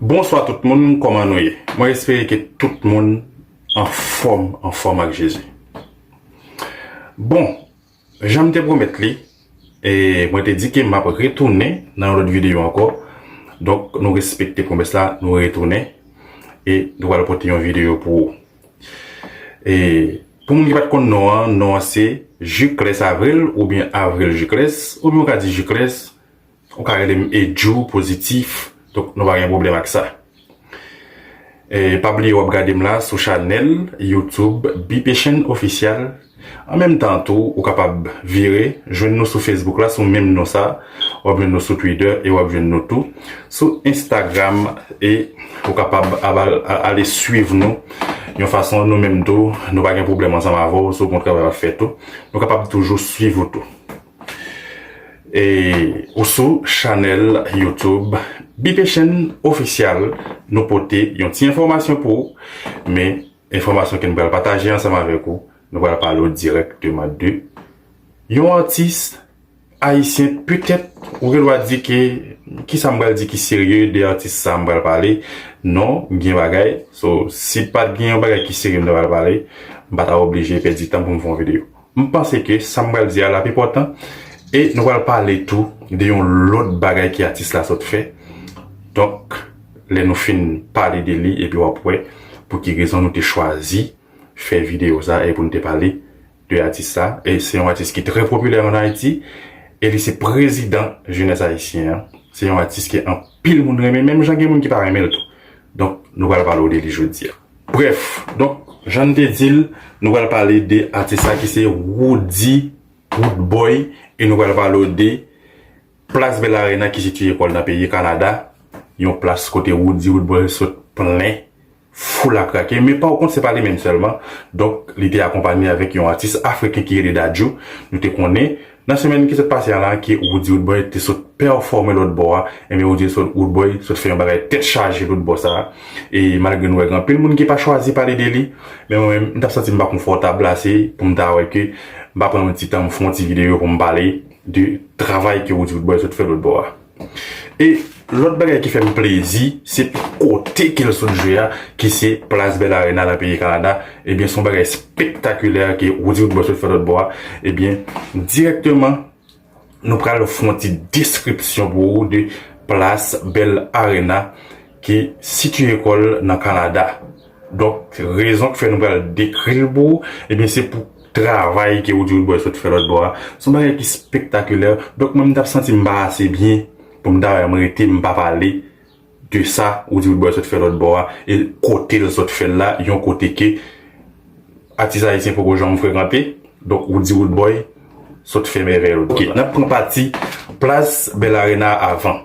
Bonswa tout moun, kòman nou ye? Mwen espere ke tout moun anfòm, anfòm ak Jezi. Bon, Jan m te pwomèt li, mwen te di ke m ap retounen nan yon lòt videyo ankò. Donk nou respekte pwomès la, nou retounen e nou pral pote yon videyo pou ou. E pou moun ki pa t konn non an, non an se Jucles Avril oubyen Avril Jucles, oubyen ou ka di Jucles Ou ka rele m Edjoo Positif donk nou pa gen pwoblèm ak sa e pa bliye wap gade m la sou chanèl YouTube Bpchaine Official an menm tan tou ou kapab vire jwenn nou sou Facebook la sou menm non sa wap jwenn nou sou Twitter e wap jwenn nou tou sou Instagram e ou kapab ale swiv nou yon fason nou menm tou nou pa gen pwoblèm ansanm avè w si w konn travay wap fè tou nou kapab toujou swiv ou tou. E ou sou chanèl YouTube Bpchenn Official nou pote yon ti enfòmasyon pou ou men enfòmasyon ke nou pral pataje ansanm avèk ou nou pral pale ou dirèkteman de yon atis ayisyen petèt ou gen dwa di ke kisa m pral di ki serye de atis sa m pral pale non gen bagay so si pat gen yon bagay ki serye m ta pral pale m pa ta oblije pèdi tan pou m fè yon videyo. M panse ke sa m pral di a la ap enpòtan e nou pral pale tou de yon lòt bagay ke atis la sot fè. Donk, lè nou fin pale de li epi w ap wè pou ki rezon nou te chwazi fè videyo sa e pou n te pale de atis sa. E se yon atis ki trè popilè an Ayiti e li se prezidan jenès ayisyen an. Se yon atis ke anpil moun renmen menm jan gen moun ki pa renmen l tou. Donk, nou pral pale w de li jodi a. Brèf, donk jan n te di l, nou pral pale de atis la ki se Roody Roodboy e nou pral pale w de Plas Bell Arena ki sitiye kò l nan peyi Kanada, yon plas kote Roody Roodboy sot plen foul a krake. Men pa w kont se pa li menm sèlman, donk li te akonpanye avèk yon atis afriken ki rele Dadju, nou te konnen Nan semèn ki sot pase a la ke Roody Roodboy te sot pèfòme lòt bò a, enben Roody Roodboy sot fè yon bagay tèt chaje lòt bò sa a, e malgre nou wè gen anpil moun ki pa chwazi pale de li, men mwen menm m ta santi m pa konfòtab ase pou m ta wè ke m pa pran yon ti tan m fè yon ti videyo pou m pale de travay ke Roody Roodboy sot fè lòt bò a. E lòt bagay ki fè m plezi, se kote ke l sot jwe a, ki se Place Bell Arena nan peyi Kanada, ebyen se yon bagay spektakilè ke Roody Woodboy sot fè lòt bò a, ebyen dirèkteman nou pral fon ti deskripsyon pou ou de Place Bell Arena. ki sitiye kò l nan Kanada. Donk, rezon ki fè nou pral dekri l pou ou, ebyen se pou travay ke Woody Woodboy sot fè lòtbò a, se yon bagay ki spektakulè. Donk, mwen m t ap santi m pa ase byen pou m ta wè m rete m pa pale de sa Woody Woodboy sot fè lòtbò a e kote l sot fè l la, yon kote ke atis ayisyen poko janm frekante. Donk, Woody Woodboy sot fè mèvèy ok. N ap pran pati Plas Bell Arena a avan.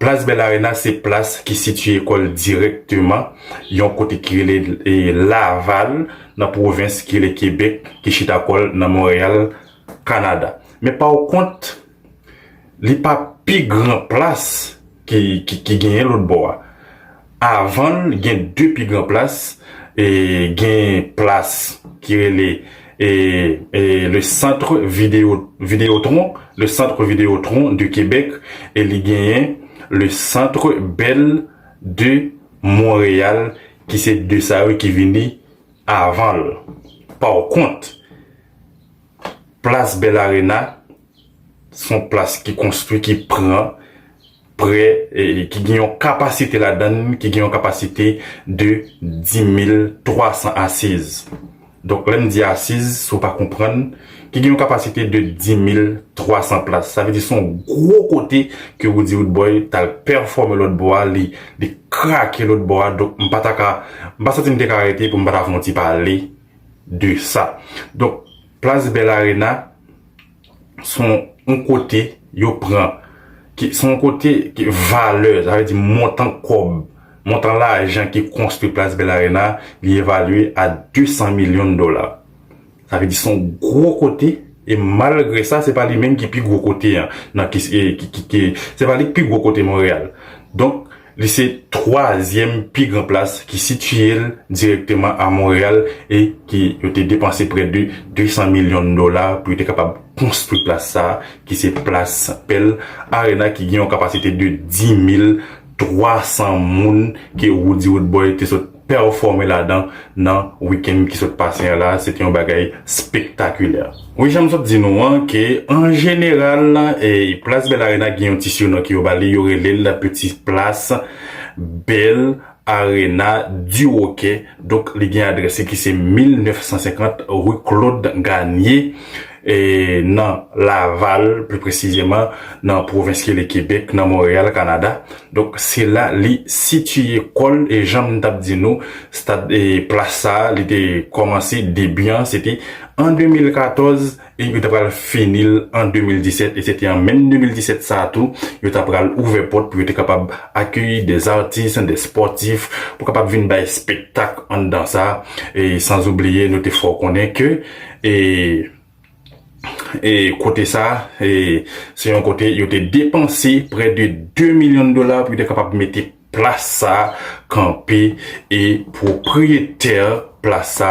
Plas Bèl Arena se plas ki sitye kò l dirèkteman yon kote ki rele Laval nan pwovens ki rele Kebèk ki chita kò l nan Monreyal, Kanada. Men pa w kont, li pa pi gran plas ki genyen lòtbò a. Avan l gen 2 pi gran plas, gen plas ki rele Le Centre Videotron, Le Centre Videotron de Québec, e li genyen Le Centre Bell de Montréal ki se 2 sa yo ki vini avan l. Pakont, plas Bell Arena son plas ki konstwi, ki pran. prè ki gen yon kapasite ladan l ki gen yon kapasite de 10.300 asiz. Donk lè m di asiz, si w pa konprann, ki gen yon kapasite de 10.300 plas. Sa vle di se yon gwo kote ke Roody Roodboy t al pèfòme lòtbò a, li krake lòtbò a. Donk m pa ta ka, m pa santi m te ka rete pou m pa ta fè yon ti pale de sa. Donk plas Bell Arena. son yon kote yo pran, ki son yon kote ki valè, sa vle di montan kòb, montan lajan ki konstwi Plas Bell Arena li evalye a 200 milyon dola. Sa vle di son gwo kote e malgre sa se pa li menm ki pi gwo kote an nan ki ki se pa li ki pi gwo kote Monreyal. Donk Li se twazyèm pi gran plas ki sitiye l dirèkteman a Monreyal e ki yo te depanse prè de 200 milyon dola pou yo te kapab konstwi plas sa a ki se plas Pearl Arena ki gen yon kapasite de 10,300 moun ke Roody Rodboy te sot pèfòme ladan nan wikenn ki sot pase an la, se te yon bagay spektakilè. Wi jan m sot di nou an ke an jeneral Plas Bèl Arena gen yon ti siyonon ke yo ba li, yo rele l peti plas Bèl Arena di Wokè, donk li gen adrès li ki se 1950 rue Claude Garnier. nan Laval, pli presizeman nan pwovens ki rele Kebèk, nan Monreyal, Kanada. Donk, se la li sitiye kò l e jan m t ap di nou, stad e plas sa a li te kòmanse debi an se te an 2014 e yo ta pral fini l an 2017 e se te an menm 2017 sa a tou yo ta pral ouvè pòt pou yo te kapab akeyi de zatis, de spòtif pou kapab vin bay spektak anndan sa e sanzoubliye nou te fè w konnen ke E kote sa, se yon kote yo te depanse prè de 2 milyon dola pou yo te kapab mete plas sa kanpe e pwopriyetè plas sa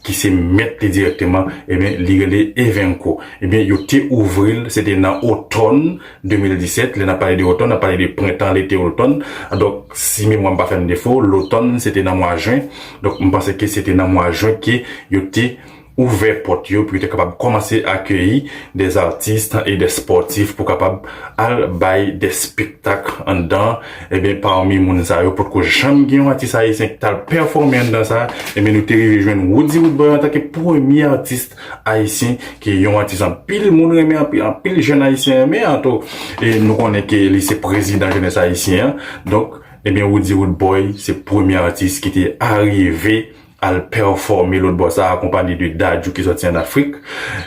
ki se mèt li direkteman, ebyen li rele Evenco. Ebyen yo te ouvri l, se te nan otòn 2017, lè n ap pale de otòn, n ap pale de prentan, lete, otòn. Donk si memwa m pa fè m defo, lotòn se te nan mwa jen, donk m panse ke se te nan mwa jen ke yo te. ouvè pòt yo pou yo te kapab kòmanse akeyi des artistes et des sportifs pou kapab al bay des spectacles anndan ebyen parmi moun sa yo potko janm gen yon atis ayisyen ki tal pèfòme anndan sa ebyen nou te rive jwenn Roody Woodboy antanke premye atis ayisyen ki yon atis anpil moun renmen anpi anpil jèn ayisyen renmen anto e nou konnen ke li se prezidan jenès ayisyen an donk ebyen Roody Woodboy se premye atis ki te arive al pèfòme lòt bò sa akonpanye de Dadju ki sòti an Afrik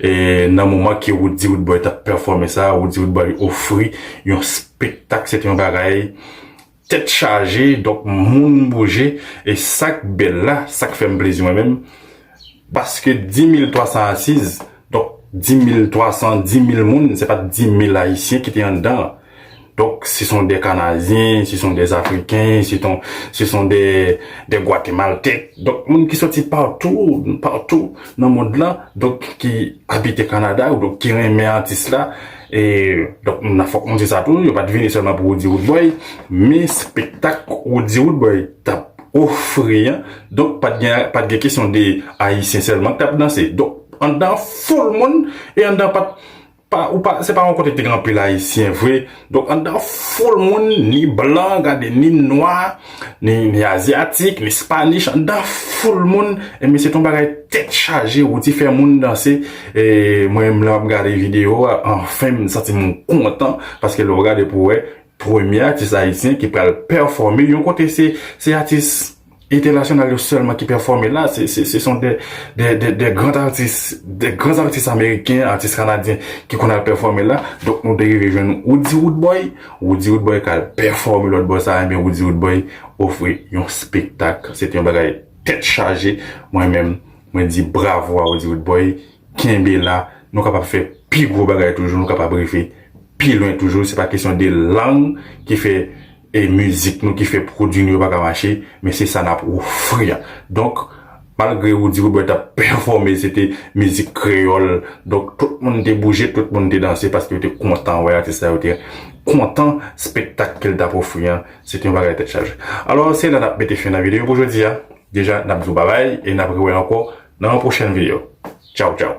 e nan moman ke Roody Roodboy tap pèfòme sa Roody Roodboy ofri yon spektak se te yon bagay tèt chaje donk moun bouje e sak bèl la sak fèm plezi mwen menm paske 10300 asiz donk 10300 10000 moun se pat 10000 ayisyen ki te anndan. Donk, se son dè Kanadyen, se son dè Afriken, se ton, se son dè, dè Gwatemaltèk. Donk, moun ki soti patou, patou nan mond lan, donk, ki abite Kanada, ou donk ki renmen atis la. E, donk, m nan fòk mwen di sa tou, yo pa t vini sèlman pou Roody Roodboy, men spektak Roody Roodboy t ap ofri an, donk, pa t gen, pa t gen kesyon de Ayisyen sèlman k t ap danse. Donk, anndan an foul moun, e anndan an pa t. Pa ou pa, se pa yon kote te gen anpil ayisyen vre. Donk anndan foul moun, ni blan, gade ni nwa, ni azyatik, ni spanich, anndan foul moun, enben se te yon bagay tèt chaje, wou ti fè moun danse. E mwen menm lè m ap gade videyo a, anfen m santi m kontan, paske lè w gade pou wè, premye atis ayisyen ki pral pèfòme yon kote se atis. Entènasyonal yo sèlman ki pèfòme la, se son de grand atis, de grand atis ameriken, atis kanadyen ki konn al pèfòme la, donk nou te rive jwenn Woody Woodboy, Woody Woodboy kal pèfòme lòt bò sa, enben Woody Woodboy ofri yon spektak, se te yon bagay tèt chaje, mwen menm mwen di bravo a Woody Woodboy, kenbe la, nou kapab fè pi gwo bagay toujou, nou kapab rive pi lwen toujou, se pa kesyon de lang ki fè. e mizik nou ki fè pwodwi nou yo pa ka mache men se sa nap ofri a donk malgre Roody Robert tap pèfòme se te mizik kreyòl donk tout moun te bouje tout moun te danse paske yo te kontan wè atis la yo te kontan spektak ke l tap ofri an se te yon bagay tèt chaje alò se la nap mete fen nan videyo pou jodi a deja nap di w babay e nap rewè ankò nan yon pwochèn videyo tchaw tchaw.